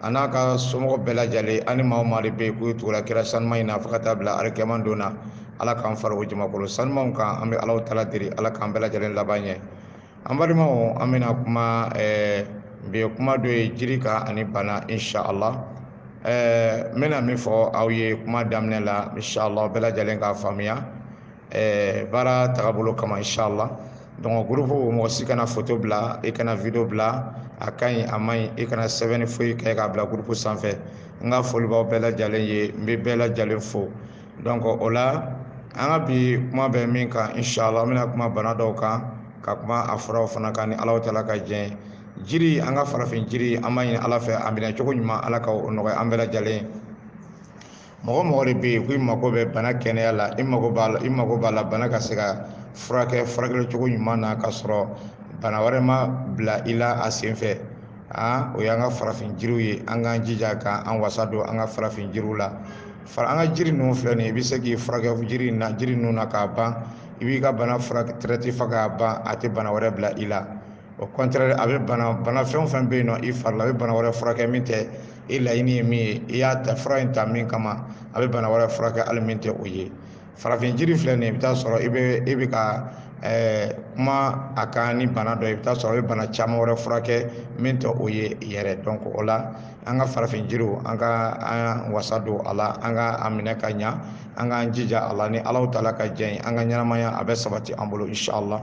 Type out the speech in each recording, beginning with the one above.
a n'a ka somɔgɔ bɛɛ lajɛlen ani maa maa de bɛ yen k'u tugula kira sanuma in na fo ka taa bila alikiyama don na ala k'an fara o jamakolo sanumaw kan an bɛ alahu taala deli ala k'an bɛɛ lajɛlen laban ɲɛ an balimaw an bɛna kuma ɛɛ bi kuma dɔ ye jiri kan ani bana inshallah ɛɛ n bɛna min fɔ aw ye kuma daminɛ la inshallah bɛɛ lajɛlen k'a faamuya eh, baara tagabolo kama inshallah donc groupe mɔgɔ si kana photo bila i kana video bila a ka ɲi a man ɲi i kana sɛbɛnni foyi kɛ k'a bila groupe sanfɛ n ka foli b'aw bɛɛ lajɛlen ye n bɛ bɛɛ lajɛlen fo donc o la an ka bi kuma bɛ min kan inshallah an bɛna kuma bana dɔw kan ka kuma a furaw fana kan ni alahu taala ka jɛn jiri an ka farafin jiri an b'a ɲini ala fɛ a minɛ cogo ɲuman ala ka o nɔgɔya an bɛɛ lajɛlen mɔgɔ mɔgɔ de bɛ yen ko i mago bɛ bana kɛnɛya la i mago b'a la i mago b'a la bana ka se ka furakɛ furakɛli cogo ɲuman na ka sɔrɔ bana wɛrɛ ma bila i la a sen fɛ aa o y'an ka farafin jiriw ye an k'an jija k'an wasa don an ka farafin jiriw la fara an ka jiri ninnu filɛ nin ye i bɛ se k'i furakɛ jiri na jiri ninnu na k'a ban i b'i ka bana furakɛ traité fo k'a ban a tɛ bana wɛrɛ bila i la au contraire a bɛ bana bana fɛn o fɛn bɛ yen nɔ i fari la a bɛ bana wɛrɛ furakɛ min tɛ i laɲini ye min ye i y'a ta fura in ta min kama a bɛ bana wɛrɛ furakɛ hali min tɛ o ye farafin jiri filɛ nin ye i bɛ taa sɔrɔ i bɛ e bɛ ka ɛɛ kuma a kan ni bana dɔ ye i bɛ taa sɔrɔ a bɛ bana caman wɛrɛ furakɛ min tɛ o ye yɛrɛ donc o la an ka farafin jiriw an ka an wasa don a la an ka a minɛ ka ɲa an k'an jija a la ni alahu taala ka jɛn ye an ka ɲɛnamaya a bɛ sabati an bolo inshallah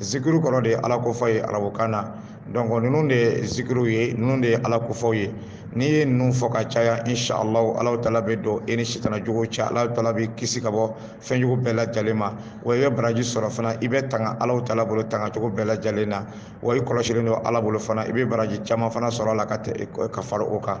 zikiriw kɔrɔ de ye ala ko fɔ ye arabukan na donc ninnu de ye zikiriw ye ninnu de ye ala ko fɔw ye n'i ye ninnu fɔ ka caya inshallah ala taala bɛ don e ni sitana jugu cɛ ala taala b'i kisi ka bɔ fɛn jugu bɛɛ lajɛlen ma wa i bɛ baraji sɔrɔ fana i bɛ tanga ala taala bolo tanga cogo bɛɛ lajɛlen na wa i kɔlɔsilen don ala bolo fana i bɛ baraji caman fana sɔrɔ a la ka ka fara o kan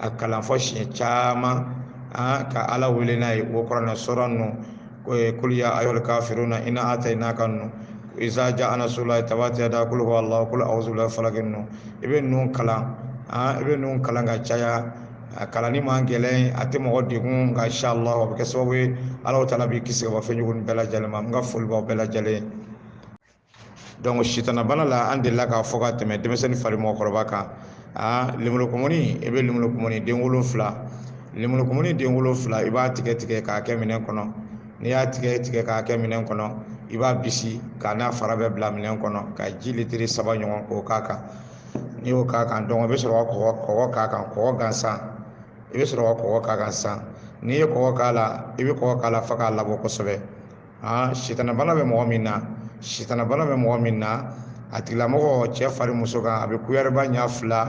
a kalan fɔ siɲɛ caman ka ala wele n'a ye o kuranɛ suran ninnu kulu ya ayyuhal kafiruna inna atainaka ninnu iza jaa nasrullahi tabati yada kulu huwa allah kulu a'udhu birabbil falaq ninnu i bɛ ninnu kalan i bɛ ninnu kalan ka caya a kalanni man gɛlɛn a tɛ mɔgɔ degun nka insha allah a bɛ kɛ sababu ye ala taala b'i kisi ka bɔ fɛn jugu bɛɛ lajɛlen ma n ka foli b'aw bɛɛ lajɛlen ye donc sitana bana la an delila k'a fɔ ka tɛmɛ denmisɛnnin fara mɔgɔkɔrɔba kan aa lemurukumuni i bɛ lemurukumuni den wolonfila lemurukumuni den wolonfila i b'a tigɛ tigɛ k'a kɛ minɛn kɔnɔ n'i y'a tigɛ tigɛ k'a kɛ minɛn kɔnɔ i b'a bisi k'a n'a fara bɛɛ bila minɛn kɔnɔ ka ji litiri saba ɲɔgɔn k'o k'a kan n'i y'o k'a kan donc i bɛ sɔrɔ ka kɔgɔ kɔgɔ k'a kan kɔgɔ gansan i bɛ sɔrɔ ka kɔgɔ k'a kan sisan n'i ye kɔgɔ k'a la i bɛ kɔgɔ k'a la fo k'a labɔ kosɛbɛ aa sitanabana bɛ mɔgɔ min na sitanabana bɛ mɔgɔ min na a tigilamɔgɔ cɛ fara muso kan a bɛ kuyɛriba ɲa fila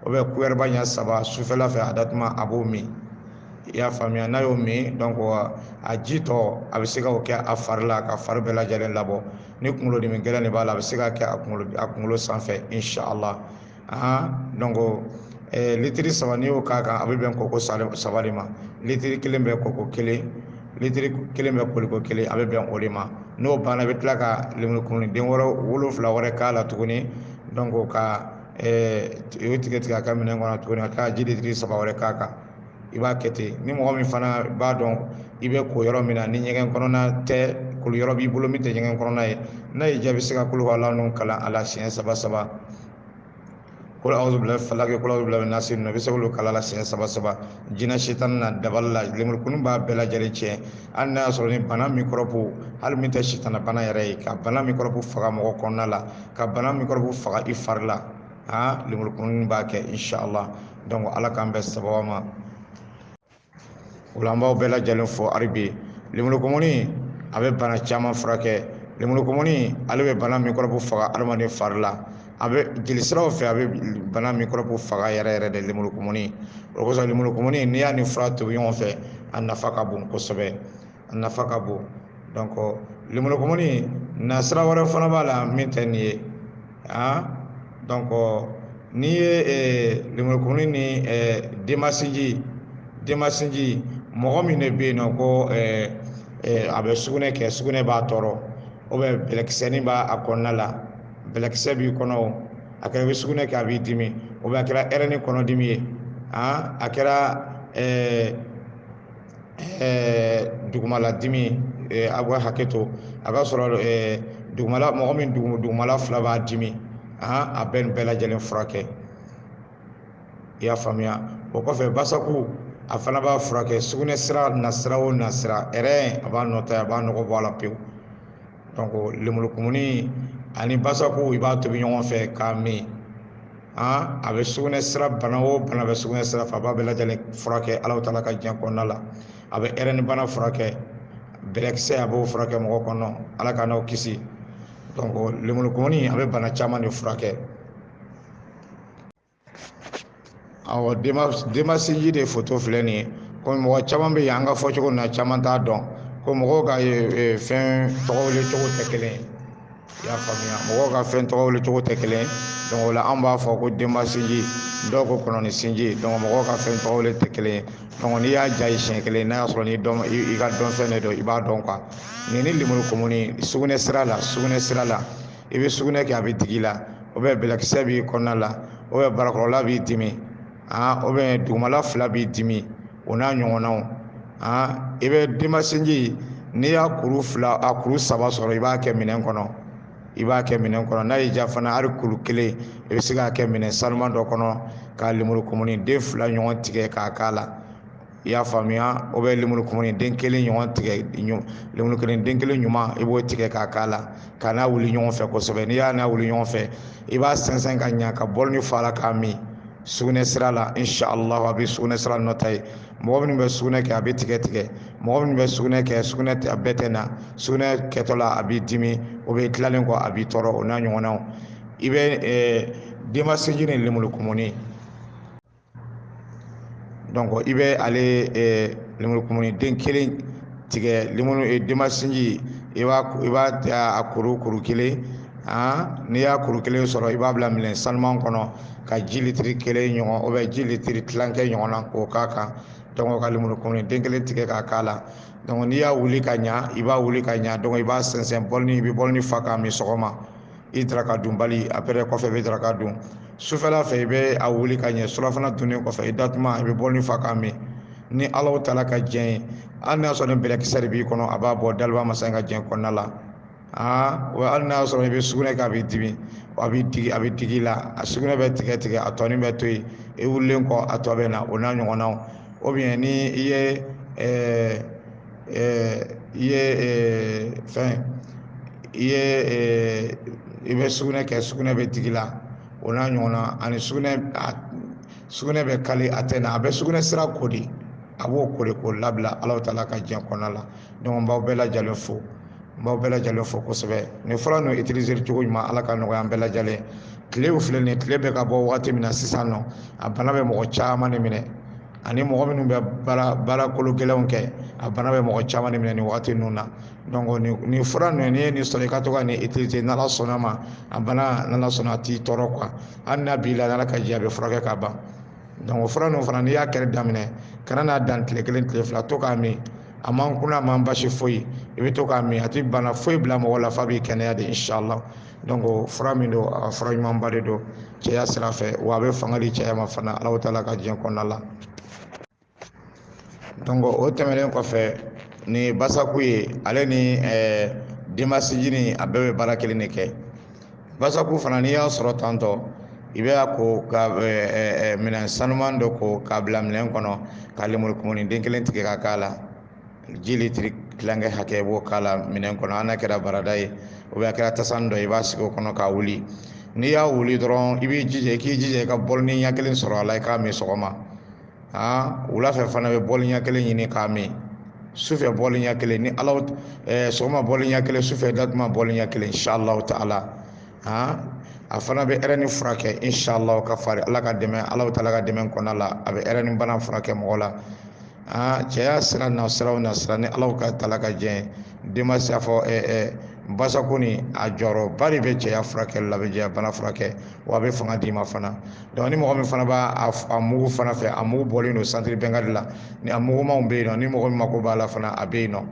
o bɛ kuyɛriba ɲa saba sufɛla fɛ a datuma a b'o min i y'a faamuya n'a y'o min donc a ji tɔ a bɛ se ka o kɛ a fari la ka fari bɛɛ lajɛlen labɔ ni kunkolodimi gɛlɛn de b'a la a bɛ se ka kɛ a kunkolo a kunkolo sanfɛ inshallah litiri saba n'i y'o k'a kan a bɛ bɛn koko saba de ma litiri kelen bɛ koko kelen litiri kelen bɛ koliko kelen a bɛ bɛn o de ma n'o banna i bɛ tila ka lemurukumuni den wɛrɛ wolonfila wɛrɛ k'a la tuguni donc ka o tigɛ tigɛ a ka minɛn kɔnɔ tuguni ka tila ka ji litiri saba wɛrɛ k'a kan i b'a kɛ ten ni mɔgɔ min fana b'a dɔn i bɛ ko yɔrɔ min na ni ɲɛgɛn kɔnɔna tɛ koli yɔrɔ b'i bolo min tɛ ɲɛgɛn kɔnɔna ye n'a y'i diya i bɛ se ka kul huwallahu kalan a la siɲɛ saba saba kul awuzu birabil falaki kul awuzu birabi nasi ninnu i bɛ se k'olu kalan a la siɲɛ saba saba jinɛ sitana dabali la lemurukumuni b'a bɛɛ lajɛlen tiɲɛ hali n'a y'a sɔrɔ ni bana mikɔrɔbu hali min tɛ sitana bana yɛrɛ ye ka bana mikɔrɔbu faga mɔgɔ kɔnɔna la ka bana mikɔrɔbu faga i fari la aa lemuru kumuni b'a kɛ inshallah donc ala k'an bɛn sababu ma o la an b'aw bɛɛ lajɛlen fo halibi lemuru kumuni a bɛ bana caman furakɛ lemuru kumuni ale bɛ bana mikɔrɔbu faga adamaden fari la a bɛ jelisiraw fɛ a bɛ bana mikɔrɔbu faga yɛrɛ yɛrɛ de lemuru kumuni o kosɔn lemuru kumuni n'i y'a ni fura tobi ɲɔgɔn fɛ a nafa ka bon kosɛbɛ a nafa ka bon donc lemurukumuni nasira wɛrɛ fana b'a la min tɛ nin ye ah donc n'i ye eh, lemurukumuni ni eh, denbasinji denbasinji mɔgɔ min de bɛ yen nɔ ko eh, eh, a bɛ sugunɛ kɛ sugunɛ b'a tɔɔrɔ ou bien bɛlɛkisɛnin b'a kɔnɔna la bɛlɛkisɛ b'i kɔnɔ o a kɛra i bɛ sugunɛ kɛ a b'i dimi ou bien a kɛra ɛrɛni kɔnɔdimi ye ah a kɛra eh, dugumala dimi a bɛ hakɛ to a ka sɔrɔ dugumala mɔgɔ min dugumala fila b'a dimi a bɛ nin bɛɛ lajɛlen furakɛ i y'a faamuya o kɔfɛ basaku a fana b'a furakɛ sugunɛ sira nasira o nasira a b'a nɔtɛ a b'a nɔgɔ bɔ a la pewu donc lemurukumuni ani basaku i b'a tobi ɲɔgɔn fɛ k'a min an a bɛ sugunɛ sira bana o bana bɛ sugunɛ sira fɛ a b'a bɛɛ lajɛlen furakɛ alahu taala ka diɲɛ kɔnɔna la a bɛ ɛrɛni bana furakɛ bɛlɛkisɛ a b'o furakɛ mɔgɔ kɔnɔ ala k'an n'aw kisi donc lemurukumuni a bɛ bana caman de furakɛ awɔ denmasinji de foto filɛ nin ye komi mɔgɔ caman bɛ yen an ka fɔcogo na caman t'a dɔn ko mɔgɔw ka fɛn tɔgɔ wele cogo tɛ kelen ye i y'a faamuya mɔgɔw ka fɛn tɔgɔ wele cogo tɛ kelen ye o la an b'a fɔ ko denmasinji dɔw ko kɔnɔni sinji mɔgɔw ka fɛn tɔgɔ wele tɛ kelen ye n'i y'a ja ye siɲɛ kelen n'a y'a sɔrɔ ni dɔn i ka dɔnfɛn de don i b'a dɔn nin ni lemuru kumuni sugunɛ sira la sugunɛ sira la i bɛ sugunɛ kɛ a bɛ digi i la ou bien bɛlɛkisɛ b'i kɔnɔna la ou bien barakɔrɔla b'i dimi ou bien dugumala fila b'i dimi o n'a ɲɔgɔnnaw i bɛ denmasinji n'i y'a kuru fila a kuru saba sɔrɔ i b'a kɛ minɛn kɔnɔ i b'a kɛ minɛn kɔnɔ n'a y'i diya fana hali kuru kelen i bɛ se k'a kɛ minɛn sanuman dɔ kɔnɔ ka lemuru kumuni den fila ɲɔgɔn tigɛ k'a k'a la i y'a faamuya ou bien lemuru kumuni den kelen ɲɔgɔn tigɛ lemuru kelen den kelen ɲuman i b'o tigɛ k'a k'a la ka n'a wuli ɲɔgɔn fɛ kosɛbɛ n'i y'a n'a wuli ɲɔgɔn fɛ i b'a sɛnsɛn ka ɲa ka bɔlini fa a la k'a min sugunɛ sira la inshallah a bɛ sugunɛ sira nɔ ta ye mɔgɔ minnu bɛ sugunɛ kɛ a bɛ tigɛ tigɛ mɔgɔ minnu bɛ sugunɛ kɛ sugunɛ a bɛɛ tɛ na sugunɛ kɛtɔ la a b'i dimi ou bien tilalen kɔ a b'i tɔɔrɔ o n'a ɲɔgɔnnaw i bɛ denmasinji ni lemuru kumuni donc i bɛ ale eh, lemurukumuni den kelen tigɛ lemuru eh, denmasinji i b'a i b'a a kuru kuru kelen han n'i y'a kuru kelen sɔrɔ i b'a bila minɛn sanuman kɔnɔ ka ji litiri kelen ɲɔgɔn ou bien ji litiri tilankɛ ɲɔgɔnna k'o k'a kan donc ka lemurukumuni den kelen tigɛ k'a k'a la donc n'i y'a wuli ka ɲa i b'a wuli ka ɲa donc i b'a sɛnsɛn bɔlini i bɛ bɔlini fa k'a min sɔgɔma i daraka dunbali après kɔfɛ i bɛ daraka dun sufɛla fɛ i bɛ a wuli ka ɲɛ surafana dunnen kɔfɛ i datuma i bɛ bɔlini fa k'a min ni alahu taala ka jɛn ye hali n'a sɔrɔ ni bɛlɛkisɛ de b'i kɔnɔ a b'a bɔ dalibaa masa in ka jɛn kɔnɔna la aa wa hali n'a sɔrɔ i bɛ sugunɛ kɛ a b'i dimi a b'i digi a bɛ digi i la a sugunɛ bɛ tigɛ tigɛ a tɔnin bɛ to yen i wulilen kɔ a tɔ bɛ na o n'a ɲɔgɔnnaw ou bien ni i ye ɛɛ i ye fɛn i ye i bɛ sugunɛ kɛ sugunɛ bɛ digi i la o n'a ɲɔgɔnna ani sugunɛ sugunɛ bɛ kali a tɛ na a bɛ sugunɛ sira ko de a b'o ko de k'o labila alahu taala ka diɲɛ kɔnɔna la donc n b'aw bɛɛ lajɛlen fo n b'aw bɛɛ lajɛlen fo kosɛbɛ nin fura ninnu utiliser cogo ɲuman ala ka nɔgɔya an bɛɛ lajɛlen tile filɛ nin tile bɛ ka bɔ wagati min na sisan nɔ a bana bɛ mɔgɔ caman de minɛ ani mɔgɔ minnu bɛ baara baara kolo gɛlɛnw kɛ a bana bɛ mɔgɔ caman de minɛ nin wagati ninnu na donc nin nin fura ninnu n'i ye nin sɔrɔ i ka to ka nin utiliser n'ala sɔnna ma a bana n'ala sɔnna a t'i tɔɔrɔ quoi hali n'a b'i la n'ala ka jɛn a bɛ furakɛ ka ban donc o fura ninnu fana n'i y'a kɛli daminɛ kana n'a dan tile kelen tile fila to k'a min a man kunna a man basi foyi i bɛ to k'a min a tɛ bana foyi bila mɔgɔ la f'a b'i kɛnɛya de inshallah donc fura min don a fura ɲumanba de don cɛya sira fɛ wa a bɛ fanga di cɛya ma fana alahu taala ka diɲɛ kɔnɔna la donc o tɛmɛnen kɔfɛ ni basaku ye ale ni eh, denbasinjini a bɛɛ bɛ baara kelen de kɛ basaku fana n'i y'a sɔrɔ tantɔ i bɛ a ko ka eh, eh, eh, minɛn sanuman dɔ ko k'a bila minɛn kɔnɔ ka lemuru kumuni den kelen tigɛ ka k'a la ji litiri tilankɛ hakɛ b'o k'a la minɛn kɔnɔ hali n'a kɛra barada ye ou bien a kɛra tasani dɔ ye i b'a sigi o kɔnɔ k'a wuli n'i y'a wuli dɔrɔn i b'i jija i k'i jija i ka bɔlini ɲɛ kelen sɔrɔ a la i k'a min sɔgɔma aa wula fɛ fana bɛ bɔli ɲɛ kelen ɲini k'a min sufɛ bɔli ɲɛ kelen ni ala eh, sɔgɔma bɔli ɲɛ kelen sufɛ datuma bɔli ɲɛ kelen inshallah ta'ala aa a fana bɛ ɛrɛni furakɛ inshallah ka fara ala ka dɛmɛ ala taala ka dɛmɛ kɔnɔna la a bɛ ɛrɛni bana furakɛ mɔgɔ la aa cɛya sira na sira na sira ni ala ka taala ka jɛn denmasi y'a fɔ eh, eh, basaku ni a jɔyɔrɔba de bɛ cɛya furakɛli la a bɛ cɛya bana furakɛ wa a bɛ fanga d'i ma fana donc ni mɔgɔ min fana b'a a mugu fana fɛ a mugu bɔlen don santiri bɛnkadi la ni a mugumanw bɛ yen nɔ ni mɔgɔ min mako b'a la fana a bɛ yen nɔ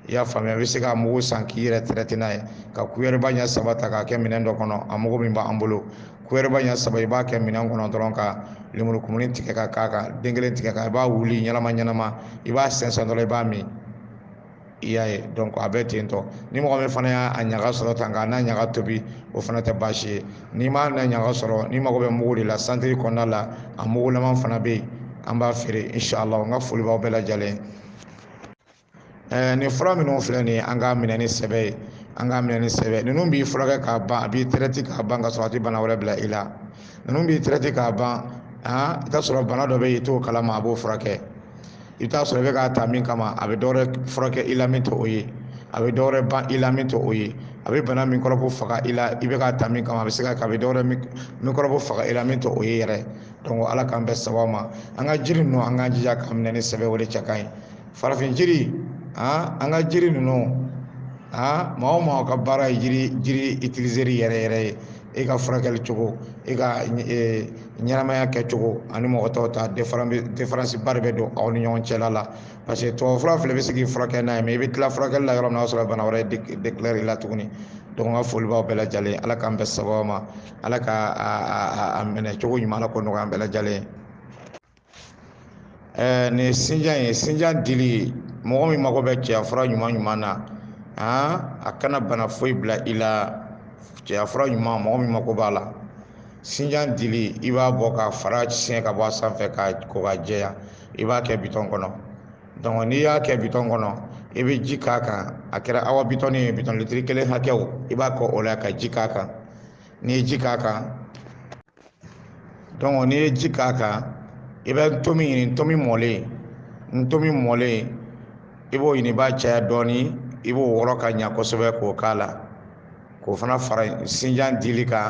i y'a faamuya a bɛ se k'a mugu san k'i yɛrɛ tɛrɛte n'a ye ka kuyɛrɛba ɲɛ saba ta k'a kɛ minɛn dɔ kɔnɔ a mugu min b'an bolo kuyɛrɛba ɲɛ saba i b'a kɛ minɛn kɔnɔ dɔrɔn ka lemuru kumuni tigɛ ka k'a kan den kelen tigɛ ka i b'a wuli ɲɛnama ɲɛnama i b'a sɛnsɛn dɔrɔn i b'a min i y'a ye donc a bɛ ten tɔ ni mɔgɔ min fana y'a ɲaga sɔrɔ tan k'a n'a ɲaga tobi o fana tɛ baasi ye n'i m'a n'a ɲaga sɔrɔ n'i mago bɛ mugu de la santiri kɔnɔna la a mugulama fana bɛ yen an b'a feere inshallah n ka foli b'aw bɛɛ lajɛlen ɛɛ nin fura minnu filɛ nin ye an k'a minɛ ni sɛbɛ ye an k'a minɛ ni sɛbɛ ninnu b'i furakɛ k'a ban a b'i tɛrɛti k'a ban ka sɔrɔ a tɛ bana wɛrɛ bila i la ninnu b'i tɛrɛti k'a ban han i t'a sɔrɔ bana dɔ bɛ yen i t'o kalama a b'o furakɛ i t'a sɔrɔ i bɛ k'a ta min kama a bɛ dɔwɛrɛ furakɛ i la min tɛ o ye a bɛ dɔwɛrɛ ban i la min tɛ o ye a bɛ bana mikɔrɔbu faga i la i bɛ k'a ta min kama a bɛ se ka a bɛ dɔwɛrɛ mikɔrɔbu faga i la min tɛ o ye yɛrɛ donc ala k'an bɛn sababu ma an ka jiri ninnu an k'an jija k'a minɛ ni sɛbɛ o de cɛ ka ɲi farafin jiri an an ka jiri ninnu aa maa o maa ka baara ye jiri jiri itilizeli yɛrɛ yɛrɛ ye e ka furakɛli cogo e ka e, ɲɛnamaya kɛcogo ani mɔgɔ tɔw ta diferansiba de bɛ don aw ni ɲɔgɔn cɛla la parce que tubabufura filɛ i bɛ se k'i furakɛ n'a ye mais i bɛ tila furakɛli la yɔrɔ min na o y'a sɔrɔ bana wɛrɛ dekilare i la tuguni donc n ka foli b'aw bɛɛ lajɛlen ala k'an bɛn sababu ma ala ka a minɛ cogo ɲuman ala k'o nɔgɔya an bɛɛ lajɛlen ɛɛ nin sinjan ye sinjan dili mɔgɔ min mago bɛ cɛya fura ɲuman ɲuman na aa a kana bana foyi bila i la cɛya fura ɲuman mɔgɔ min mago b'a la sinjan dili i b'a bɔ k'a fara siɲɛ ka bɔ a sanfɛ k'a ko k'a jɛya i b'a kɛ bitɔn kɔnɔ donc n'i y'a kɛ bitɔn kɔnɔ i bɛ ji k'a kan a kɛra awa bitɔni ye bitɔn litiri kelen hakɛ i b'a kɛ o la ka ji k'a kan n'i ye ji k'a kan donc n'i ye ji k'a kan i bɛ ntomi ɲini ntomi mɔlen ntomi mɔlen i b'o ɲini i b'a caya dɔɔni i b'o wɔrɔ ka ɲa kosɛbɛ k'o k'a la k'o fana fara sinjan dili kan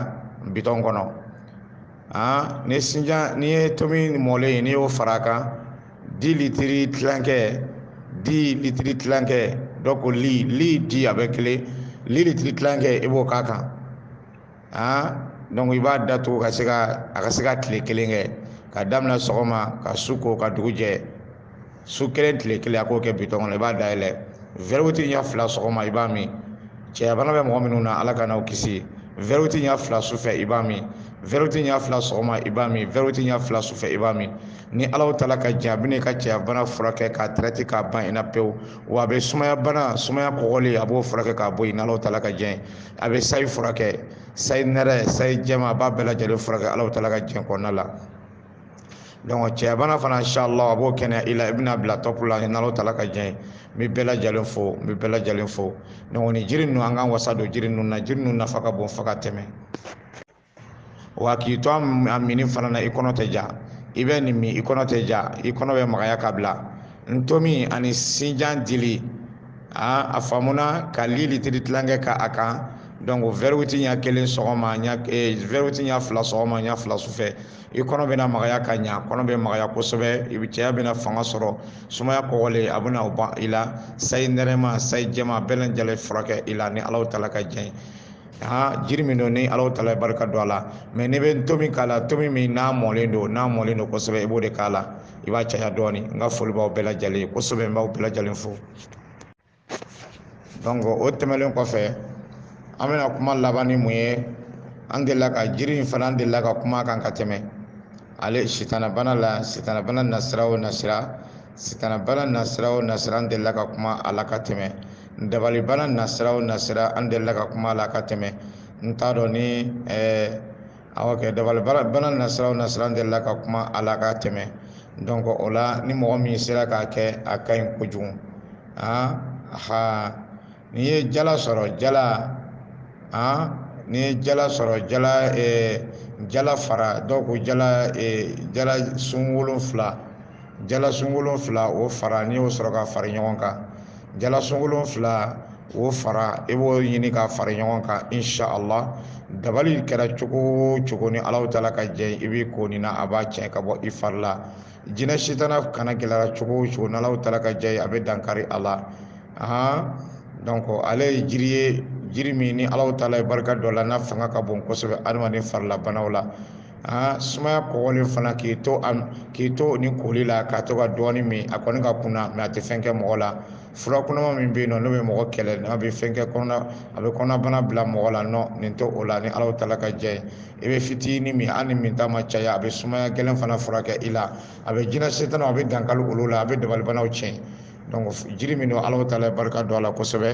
bitɔn kɔnɔ aa ni sinjan n'i ye ntomi mɔlen ye n'i y'o fara a kan di litiri tilankɛ di litiri tilankɛ donc li li di a bɛɛ kelen li litiri tilankɛ i b'o k'a kan i b'a datugu ka se ka a ka se ka tile kelen kɛ ka daminɛ sɔgɔma ka su ko ka dugu jɛ su kelen tile kelen a k'o kɛ bitɔn kɔnɔ i b'a dayɛlɛ verre huit ɲɛ fila sɔgɔma i b'a min cɛyabana bɛ mɔgɔ minnu na ala k'an n'aw kisi verre huit ɲɛ fila sufɛ i b'a min verre huit ɲɛ fila sɔgɔma i b'a min verre huit ɲɛ fila sufɛ i b'a min ni alahu taala ka jɛn a bɛna i ka cɛyabana furakɛ k'a traiter k'a ban i na pewu wa a bɛ sumaya bana sumaya kɔgɔlen a b'o furakɛ k'a bɔ yen n'alahu taala ka jɛn a bɛ sayi furakɛ sayi nɛrɛ sayi jɛma a b'a bɛɛ lajɛlen furakɛ alahu taala ka jɛn kɔnɔna la donc cɛyabana fana inshallah a b'o kɛnɛya i la i bɛna bila top la n'alahu taala ka jɛn n bɛ bɛɛ lajɛlen fo n bɛ bɛɛ lajɛlen fo donc nin jiri ninnu an k'an wasa don jiri ninnu na jiri ninnu nafa ka bon fo ka tɛmɛ wa k'i to a minni fana na i kɔnɔ tɛ ja i bɛ nin min i kɔnɔ tɛ ja i kɔnɔ bɛ magaya ka bila ntomi ani sinjan dili aa a faamuna ka li litiri tilankɛ k'a kan donc verre huit ɲɛ kelen sɔgɔma ɲɛ eh, verre huit ɲɛ fila sɔgɔma ɲɛ fila sufɛ i kɔnɔ bɛna magaya ka ɲa kɔnɔ bɛ magaya kosɛbɛ i bi cɛya bɛna fanga sɔrɔ sumaya kɔgɔlen a bɛna o ban i la sayi nɛrɛma sayi jɛma bɛɛ lajɛlen furakɛ i la ni alahu taala ka jɛn aa jiri min don ni alahu taala barika don a la mais n'i bɛ ntomi k'a la ntomi min n'a mɔlen don n'a mɔlen don kosɛbɛ i b'o de k'a la i b'a caya dɔɔni n ka foli b'aw bɛɛ lajɛlen kosɛbɛ n b'aw bɛɛ lajɛlen fo donc o tɛmɛlen kɔfɛ an bɛna kuma laban ni mun ye an delila ka jiri in fana an delila ka kuma a kan ka tɛmɛ ale sitanabana la sitanabana nasira o nasira sitanabana nasira o nasira an delila ka kuma a la ka tɛmɛ dabalibana nasira o nasira an delila ka kuma a la ka tɛmɛ n t'a dɔn ni eh, awɔ kɛ dabalibana nasira o nasira an delila ka kuma a la ka tɛmɛ donc o la ni mɔgɔ min sera k'a kɛ a ka ɲi kojugu ah, ha n'i ye jala sɔrɔ jala ah, n'i ye jala sɔrɔ jala eh, jala fara donc jala eh, jala sun wolonfila jala sun wolonfila o fara n'i y'o sɔrɔ ka fara ɲɔgɔn kan jala sun wolonfila o fara i b'o ɲini ka fara ɲɔgɔn kan insha allah dabali kɛra cogo o cogo ni alahu taala ka jɛ i b'i ko nin na a b'a tiɲɛ ka bɔ i fari la jinɛ sitanabana gɛlɛyara cogo o cogo n'alahu taala ka jɛ a bɛ dankari a la ahan donc ale ye jiri ye jiri min ni alahu taala ye barika don a la n'a fanga ka bon kosɛbɛ adamaden farilabanaw la aa sumaya kɔgɔlen fana k'i to a k'i to ni koli la ka to ka dɔɔni min a kɔni ka kunna mais a tɛ fɛn kɛ mɔgɔ la fura kunnama min bɛ yen nɔ n'o bɛ mɔgɔ kɛlɛ n'a bɛ fɛn kɛ kɔnɔna a bɛ kɔnɔnabana bila mɔgɔ la non nin tɛ o la ni alahu taala ka jɛ i bɛ fitinin min hali n'i minta ma caya a bɛ sumaya gɛlɛn fana furakɛ i la a bɛ jinɛ sitana a bɛ dankali olu la a bɛ dabalibanaw tiɲɛ donc jiri min don alahu taala barika don a la kosɛbɛ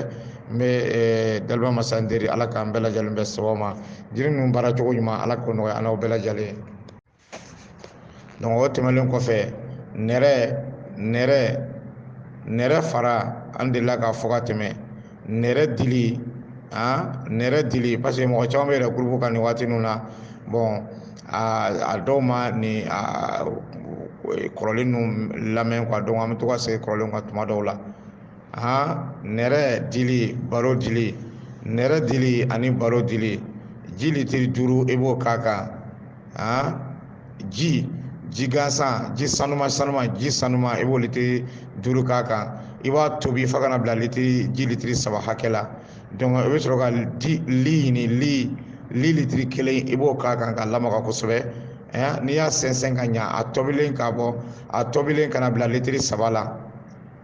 n bɛ eh, daliba masa deli ala k'an bɛɛ lajɛlen bɛn sababu ma jiri ninnu baara cogo ɲuman ala k'o nɔgɔya an n'aw bɛɛ lajɛlen donc o tɛmɛnlen kɔfɛ nɛrɛ nɛrɛ nɛrɛ fara an delila k'a fɔ ka tɛmɛ nɛrɛ dili han nɛrɛ dili parce que mɔgɔ caman bɛ yɛrɛ gurupu kan nin waati ninnu na bon a dɔw ma nin kɔrɔlen ninnu lamɛn quoi donc an bɛ to ka segin kɔrɔlen kan tuma dɔw la han nɛrɛ dili baro dili nɛrɛ dili ani baro dili ji litiri duuru i b'o k'a kan han ji ji gansan ji sanuma sanuma ji sanuma i b'o litiri duuru k'a kan i b'a tobi fo ka n'a bila litiri ji litiri saba hakɛ la donc i bɛ sɔrɔ ka di li ɲini li li litiri kelen i b'o k'a kan k'a lamaga kosɛbɛ n'i y'a sɛnsɛn ka ɲa a tobilen k'a bɔ a tobilen ka n'a bila litiri saba la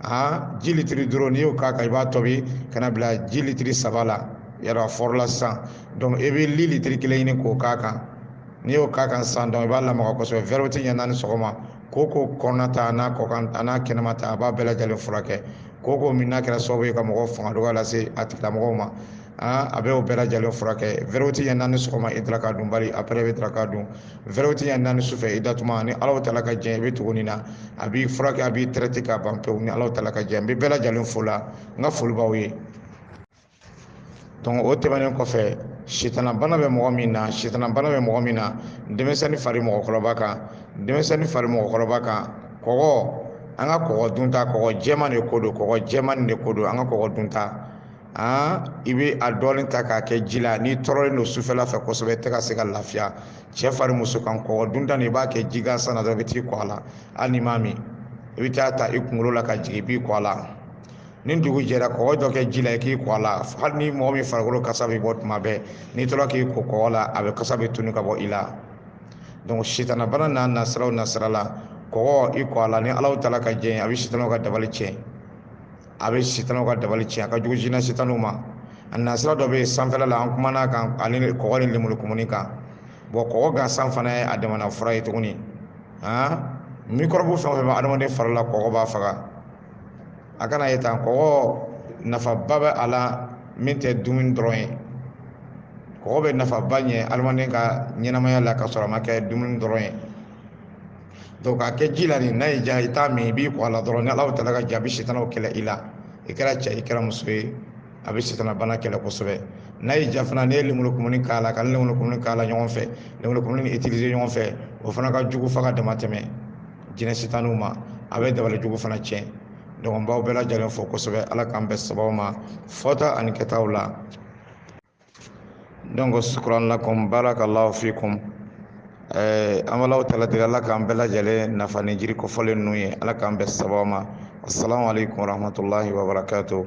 aa ji litiri duuru n'i y'o k'a kan i b'a tobi ka n'a bila ji litiri saba la yɔrɔ a fɔrɔla sisan donc i bɛ li litiri kelen ɲini k'o k'a kan n'i y'o k'a kan sisan donc i b'a lamaga kosɛbɛ vɛrɛti ɲɛ naani sɔgɔma koko kɔnɔna ta a n'a kɔkan a n'a kɛnɛma ta a b'a bɛɛ lajɛlen furakɛ koko min n'a kɛra sababu ye ka mɔgɔ fanga dɔgɔya lase a tigilamɔgɔw ma a bɛ o bɛɛ lajɛlen furakɛ vɛrɛti ɲɛ naani sɔgɔma i daraka dunbali après i bɛ daraka dun vɛrɛti ɲɛ naani sufɛ i datuma ni alahu taala ka jɛ i bɛ tugu nin na a b'i furakɛ a b'i traiter ka ban pewu ni alahu taala ka jɛ n bɛ bɛɛ lajɛlen fo la n ka foli b'aw ye donc o tɛmɛnen kɔfɛ sitanabana bɛ mɔgɔ min na sitanabana bɛ mɔgɔ min na denmisɛnnin fara mɔgɔkɔrɔba kan denmisɛnnin fara mɔgɔkɔrɔba kan kɔgɔ an ka kɔgɔ dunta kɔgɔ jɛman de ko don kɔgɔ jɛman de ko don an ka kɔgɔ dunta an i bɛ a dɔɔni ta k'a kɛ ji la n'i tɔɔrɔlen don sufɛla fɛ kosɛbɛ i tɛ ka se ka lafiya cɛ fara muso kan kɔgɔ dunta nin i b'a kɛ ji gansan na dɔrɔn i bɛ t'i ko a la hali n'i m'a min i bɛ t'a ta i kunkolo la ka jigin i b'i ko a la ni dugu jɛra kɔgɔ dɔ kɛ ji la i k'i ko a la hali ni mɔgɔ min farikolo kasa bɛ bɔ tuma bɛɛ n'i tora k'i ko kɔgɔ la a bɛ kasa bɛɛ tunun ka bɔ i la donc sitanabana n'a nasiraw nasira la kɔgɔ i ko a la ni ala taala ka jɛn a bɛ sitanaw ka dabali tiɲɛ a bɛ sitanaw ka dabali tiɲɛ a ka jugu jinɛ sitaniw ma a nasira dɔ bɛ yen sanfɛla la an kuman'a kan ani kɔgɔ ni lemurukumuni kan bon kɔgɔ gansan fana ye a damana fura ye tuguni han mikɔrɔbu fɛn o fɛn bɛ adamaden fari la kɔgɔ b'a faga a kan'a ye tan kɔgɔ nafaba bɛ a la min tɛ dumuni dɔrɔn ye kɔgɔ bɛ nafaba ɲɛ adamaden ka ɲɛnamaya la ka sɔrɔ a ma kɛ dumuni dɔrɔn ye donc k'a kɛ ji la nin n'a y'i diya i t'a min i b'i ko a la dɔrɔn ni ala taala ka jɛn a bɛ sitanaw kɛlɛ i la i kɛra cɛ i kɛra muso ye a bɛ sitana bana kɛlɛ kosɛbɛ n'a y'i diya fana n'i ye lemuru kumuni k'a la ka lemuru kumuni k'a la ɲɔgɔn fɛ lemuru kumuni nin utiliser ɲɔgɔn fɛ o fana ka jugu fo ka dama tɛmɛ jinɛ sitaniw ma a bɛ dabali jugu fana tiɲɛ donc n b'aw bɛɛ lajɛlen fo kosɛbɛ ala k'an bɛn sababu ma fɔta ani kɛtaw la donc shukran lakum barakallahu fikum eh, an b'alahu taala deli ala k'an bɛɛ lajɛlen nafa ni jiri kofɔlen ninnu ye ala k'an bɛn sababu ma assalamu alaikum warahmatullahi wabarakatuh